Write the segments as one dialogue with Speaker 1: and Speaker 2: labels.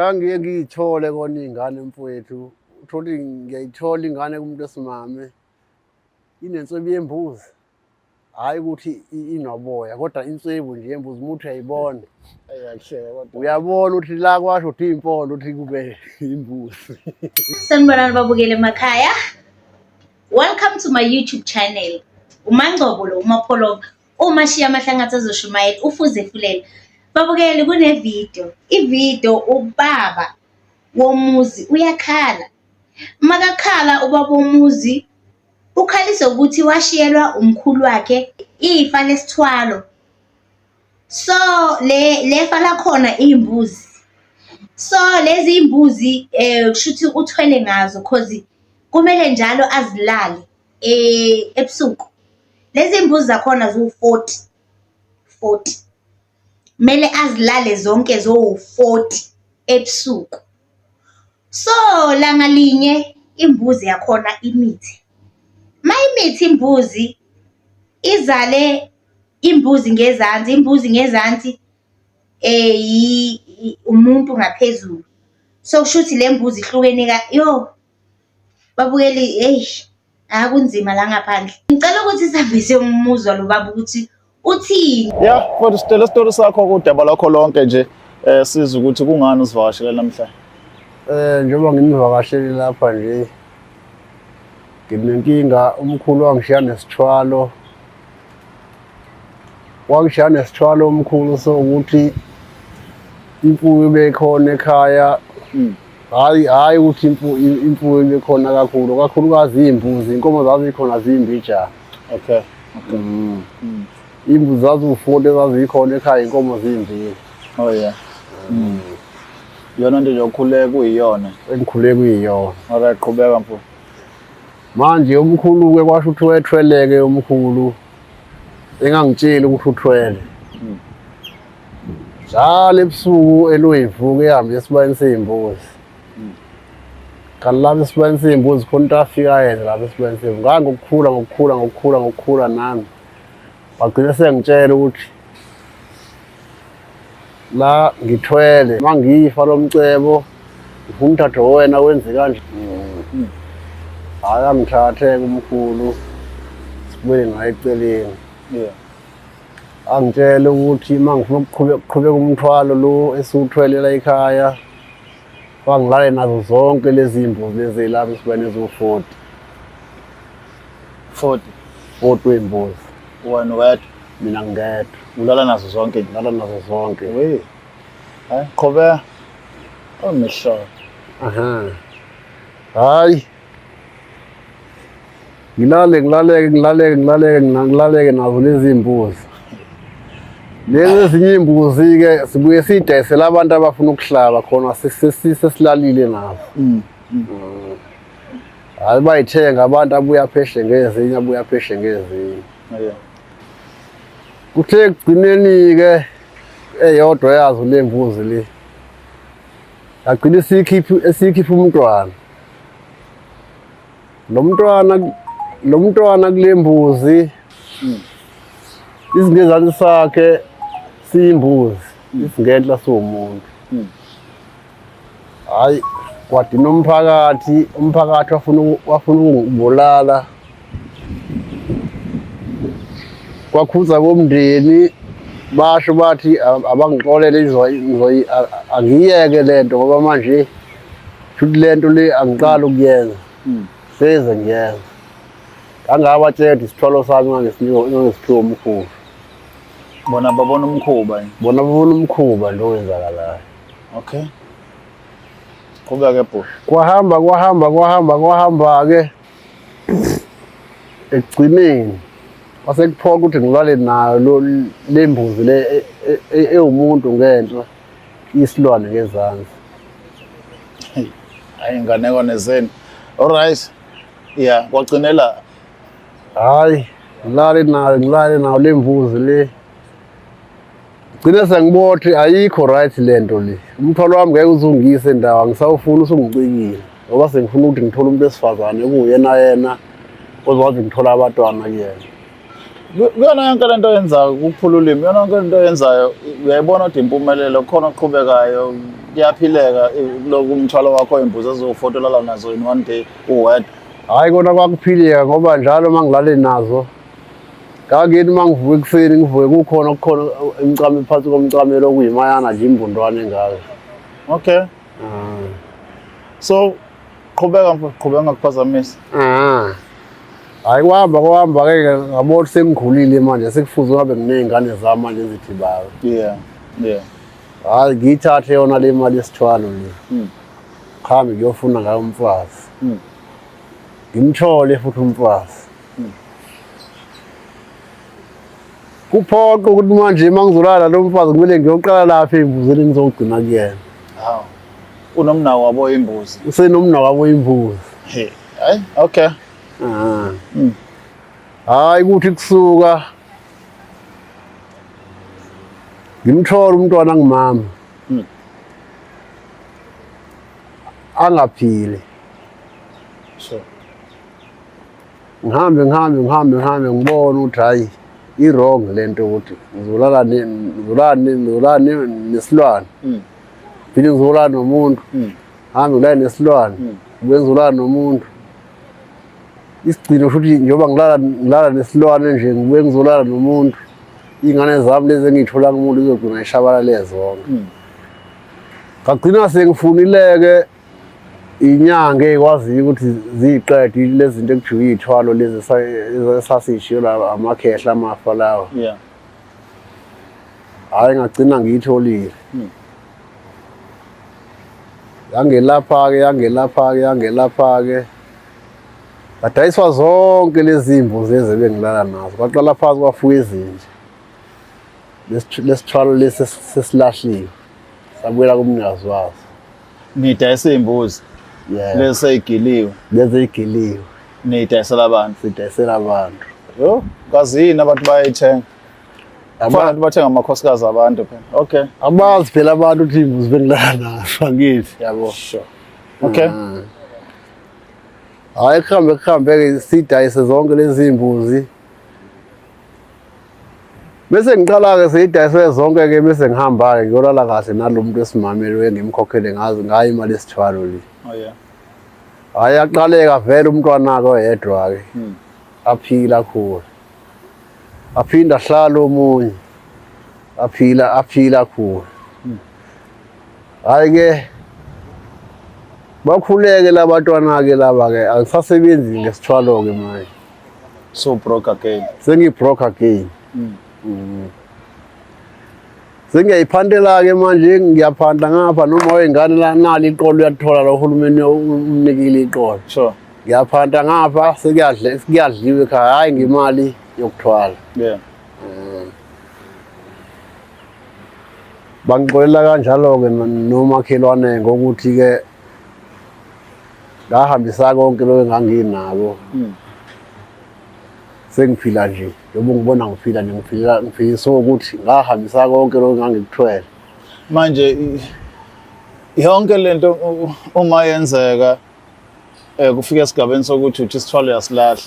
Speaker 1: Ngiye ngiyithole kona iy'ngane mfowethu, uthole ngiyayithola ingane kumuntu esimame inenswebu yembuzi hhayi ukuthi inoboya kodwa inswebu nje yembuzi umuntu uyayibona uyabona ukuthi la kwasho ukuthi iy'mpondo ukuthi kube imbuzi sanibonani
Speaker 2: babukele emakhaya welcome to my youtube channel umangcobo lo umapholoba Uma shiya amahlangatha azoshumayela ufuze fulela. Babukeli kunevidiyo, ividiyo ubaba womuzi uyakhala. Makakhala ubaba womuzi ukhalisa ukuthi washiyelwa umkhulu wakhe ifa lesithwalo. So le lefa lakhona iy'mbuzi. So lezi y'mbuzi um kushuthi uthwele ngazo cause kumele njalo azilale. eh, ebusuku lezi mbuzi zakhona ziwu-40 40 kumele azilale zonke zowu-40 ebusuku so langa linye imbuzi yakhona imithi ma imithi imbuzi izale imbuzi ngezansi imbuzi ngezansi eh umuntu ngaphezulu so kusho ukuthi le mbuzi ihlukene ka yo Babukeli eish hha kunzima la ngaphandle. Ngicela ukuthi sihambise umuzwa lo baba ukuthi uthini. Ya mfowethu sitshela
Speaker 3: isitori sakho kudaba lwakho lonke nje um siza ukuthi kungani usivakashele namhlanje. Eh njengoba
Speaker 1: ngimvakashele lapha nje nginenkinga umkhulu wangishiya nesithwalo wangishiya nesithwalo umkhulu so ukuthi imfuyo bekhona ekhaya Hayi hayi ukuthi imfuyo ibekhona kakhulu kakhulukazi iy'mbuzi inkomo zazikhona zimbi ja okay
Speaker 3: mm.
Speaker 1: mm. imbuzi zaziwufunda ezazikhona ekhaya inkomo zimbili oh
Speaker 3: yeah mm. yona nto nje okhule kuyiyona engikhule kuyiyona
Speaker 1: alright qhubeka mfo
Speaker 3: manje
Speaker 1: umkhulu-ke kwasho ukuthi wethweleke umkhulu engangitsheli ukuthi uthwele mm. njalo ebusuku eluyivuka ehambe esibayeni sey'mbuzi kanti lapho esibayeni sey'mbuzi khona into afika yenze lapho esibayeni sey'mbuzi ngake ngokukhula ngokukhula ngokukhula ngokukhula nami wagcina sengitshela ukuthi la ngithwele uma ngifa lo mcebo ngifumthatho wena wenze kanje hhayi angithathe kumkhulu sibuyele ngayo eceleni yeah angitshele ukuthi uma ngifuna ukuqhubeka umthwalo lo esiwuthwelela ekhaya bangilale nazo zonke lezi mbuzi ezelapha esiba nezo-40 40 40 wey'mbuzi wena wedwa
Speaker 3: mina ngedwa
Speaker 1: ulala nazo zonke
Speaker 3: ngilala nazo zonke
Speaker 1: we
Speaker 3: hayi qhubeka omehlo aha
Speaker 1: hayi ngilale ngilaleke ngilaleke ngilaleke ngilaleke nazo lezi mbuzi lezi ezinye imbuzi-ke sibuye siyidayisele abantu abafuna ukuhlaba khona sesilalile nazo mm, mm. Mm. hayi bayithenga abantu abuye apheshe ngezinye abuye apheshe ngezinye kuthe ekugcineni-ke eyodwa yazo le mbuzi le yagcina esiyikhipha umntwana lo mntwana lo mntwana kule mbuzi hmm. isingezane sakhe siyimbuzi hmm. isingenhla siwumuntu hmm. hayi kwadina umphakathi umphakathi wafuna wafuna ukungibulala kwakhuza komndeni basho bathi abangixolele angiyeke lento ngoba manje Shuthi le nto le angiqali ukuyenza hmm. seze ngiyenza ngangabatshela isithwalo sami ngangesiphiwa umkhuba
Speaker 3: bona babona umkhuba bona babona umkhuba
Speaker 1: nto owenzakalayo okay
Speaker 3: qhubeka ke bhuti kwahamba kwahamba kwahamba kwahamba-ke
Speaker 1: ekugcineni kwasekuphoqa ukuthi ngilale nayo le mbuzi le e, e, e, ewumuntu ngenhla isilwane ngezansi
Speaker 3: hayi inganekwane zenu alright ya kwagcinela hayi
Speaker 1: ngilale nayo ngilale nayo le mvuzi le gcine sengibothi ayikho right le nto le umthwalo wami ngeke uzungise ndawo angisawufuni usungicikile ngoba sengifuna ukuthi ngithole umuntu wesifazane kuwuyena yena ozokwazi ngithola abantwana kuyena
Speaker 3: kuyona yonke lento oyenzayo ukuphula ulimi yona yonke lento oyenzayo uyayibona kodwa impumelelo khona oqhubekayo kuyaphileka loku umthwalo wakho oyimbuzi ezofotolela nazo in one day uwedwa hhayi kona
Speaker 1: kwakuphileka ngoba njalo uma ngilale nazo ngangeni uma ngivuka ekuseni ngivuke kukhona okukhona emcame phansi komcamelo okuyimayana nje imbundwane ngayo okay
Speaker 3: ah. so Qhubeka mfo, qhubeka ngakuphazamisa. Ah. Hayi kuhamba kuhamba ke ngabona sengikhulile manje sekufuze ngabe nginezingane zami manje ezithi bayo. Yeah.
Speaker 1: Yeah. Hayi ngiyithathe yona le mali yesithwalo le. Mm. Khambe ngiyofuna ngayo umfazi. Mm. Ngimthole futhi umfazi. Mm. kuphoqa ukuthi manje uma ngizolala lo mfazi kumele ngiyoqala lapha ey'mbuzini ngizogcina kuyena hawu
Speaker 3: unomnawo wabo imbuzi usenomnawo wabo
Speaker 1: imbuzi hayi
Speaker 3: okay
Speaker 1: ah. hmm. hayi ukuthi kusuka ngimthola umntwana ngimama hmm. angaphile
Speaker 3: sure
Speaker 1: ngihambe ngihambe ngihambe ngihambe ngibona ukuthi hhayi i-wrong le nto ukuthi ngizolala ngizolani nesilwane hmm. phinde ngizolala nomuntu hmm. hambe ngilale nesilwane hmm. kube ngizolala nomuntu isigcino futhi njengoba ngilala ngilala nesilwane nje ngibuye ngizolala nomuntu iy'ngane zami lezi engiyithola kumuntu izogcina ishabalale zonke ngagcina sengifunileke inyanga ekwaziyo ukuthi ziyiqede lezi zinto ekujike iy'thwalo lezi esasiyishiyo la amakhehla amafa lawa yeah hhayi ngagcina ngiyitholile hmm. yangelapha-ke yangelapha-ke yangelapha-ke ngadayiswa zonke lezi mbo zeze bengilala nazo kwaqala phansi kwafuka ezinje lesithwalo lesi sesilahliwe sabuyela kumnikazi wazo Nidayisa
Speaker 3: iy'mbuzi Yeah. lezi sey'giliwe Lezi igiliwe
Speaker 1: niyidayisela
Speaker 3: abantu sidayisela abantu.
Speaker 1: yo kazi
Speaker 3: yini abantu bayayithenga Aba- abantu bathenga amakhosikazi abantu phela okay Abazi phela abantu
Speaker 1: ukuthi imbuzi bengilala nazo angithi yabo. sure
Speaker 3: okay
Speaker 1: Mm. Hayi kuhambe kuhambe ke sidayise zonke lezi imbuzi Bese ngiqala-ke seyidayiswe zonke-ke bese ngihamba-ke ngiyolala kahle nalo muntu wesimamelo engimkhokhele ngazo ngayo imali esithwalo le oh,
Speaker 3: hhayi
Speaker 1: aqaleka vele umntwana-ke oyedwa-ke hmm. aphila akhula aphinde ahlale omunye aphila aphila akhula hmm. hhayi-ke bakhuleke labantwana-ke laba-ke angisasebenzi ngesithwalo-ke manje so
Speaker 3: broke again sengi broke again
Speaker 1: mm. Mm. sengiyayiphantela ke manje ngiyaphanta ngapha noma wengane la nali iqolo uyathola lo hulumeni umnikile iqolo sure ngiyaphanta
Speaker 3: ngapha
Speaker 1: sekuyadle sekuyadliwe ekhaya hayi ngimali yokuthwala yeah
Speaker 3: mm.
Speaker 1: bangixolela kanjalo ke nomakhelwane ngokuthi ke ngahambisa konke lokho enganginako hmm. sengiphila nje njengoba ngibona ngiphila nje ngiphila ngiphikiswe ukuthi ngahambisa konke lokho engangikuthwele manje
Speaker 3: yonke lento uma yenzeka eh kufika esigabeni sokuthi uthi isithwalo uyasilahla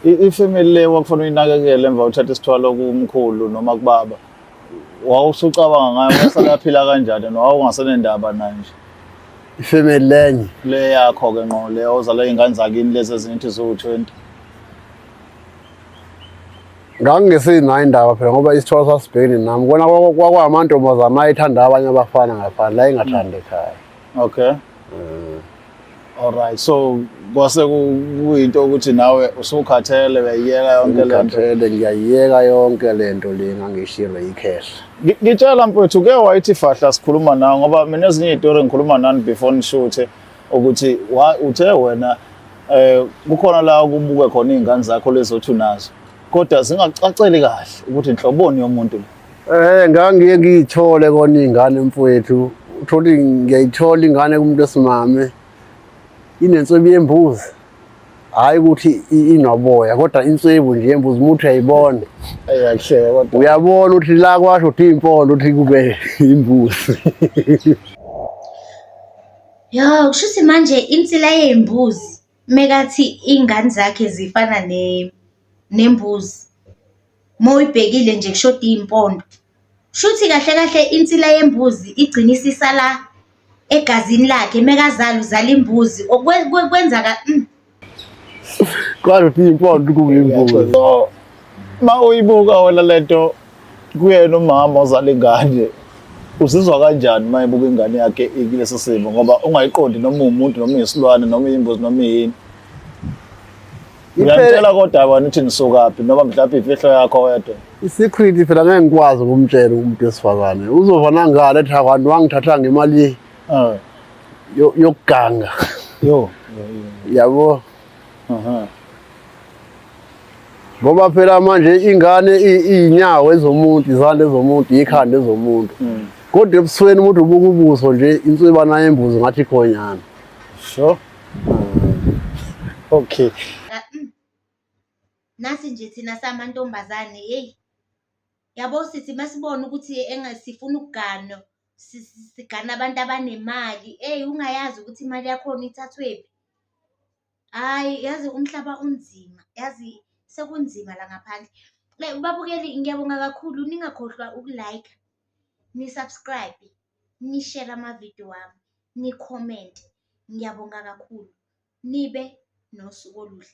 Speaker 3: ifamily le wakufanele uyinakekele emva uthatha isithwalo kumkhulu noma kubaba wawusucabanga ngayo wasalaphila kanjani nowawungasenendaba naye nje ifamily
Speaker 1: lenye le yakho ke nqo
Speaker 3: le ozala izingane zakini lezi ezingithi ziwu-20
Speaker 1: ngangingesenayo indaba phela ngoba isithwalo sasibhekene nami kona kwakwamantombazana ayethanda abanye abafana ngaphandle ayingathandi ekhaya okay
Speaker 3: um alright so kwase kuyinto ukuthi nawe usukhathele uyayiyeka yonke lento ngikhathele ngiyayiyeka
Speaker 1: yonke lento le ngangishire icash ngitshela mfowethu
Speaker 3: ke wayithi fahla sikhuluma nawe ngoba mina ezinye izitori ngikhuluma nani before nishuthe ukuthi uthe wena eh kukhona la kubuke khona izingane zakho lezothi unazo kodwa zingacaceli kahle ukuthi inhloboni yomuntu Eh ngangiye
Speaker 1: ngiyithole kona ingane mfowethu uthola ngiyayithola ingane kumuntu esimame inensebi yembuzi hayi ukuthi inoboya kodwa insebu nje yembuzi umuntu uyayibona eyahleka
Speaker 3: kodwa uyabona ukuthi la
Speaker 1: kwasho ukuthi impolo ukuthi kube imbuzi
Speaker 2: Yo, kushuthi manje insila yey'mbuzi Mekathi iy'ngane zakhe zifana nembuzi, uma uyibhekile nje kushoda iy'mpondo. Shuthi kahle kahle insila yembuzi igcine isisala egazini lakhe, mekazala uzala imbuzi kwenza ka .
Speaker 1: Kodwa impondo kungeyimbuzi so
Speaker 3: uma uyibuka wena le nto. kuyena umama ozala ingane uzizwa kanjani uma ebuka ingane yakhe ikulesi simo ngoba ungayiqondi noma umuntu noma isilwane noma imbuzi noma yini uyamtshela kodwa wena uthi nisukaphi noma mhlawumbe imfihlo yakho wedwa i-secret phela ngeke
Speaker 1: ngikwazi ukumtshela umuntu wesifazane uzova nangale ethi akwanti wangithatha ngemali ah. yokuganga
Speaker 3: yabo
Speaker 1: ngoba phela manje ingane iyinyawo ezomuntu izandla ezomuntu ikhanda ezomuntu mm. kodwa ebusweni umuntu ubuka ubuso nje inswibana yembuzi ngathi khonyana sure
Speaker 3: okay mm.
Speaker 2: nasi nje thina samantombazane yeyi yabo sithi masibona ukuthi engasifuna ukugana sigana abantu abanemali eyi ungayazi ukuthi imali yakhona ithathwephi Hhayi yazi umhlaba unzima, yazi sekunzima la ngaphandle. Like babukeli ngiyabonga kakhulu ningakhohlwa uku-like, ni-subscribe, ni-share amavidiyo wami, ni-comment. Ngiyabonga kakhulu. Nibe nosuku oluhle.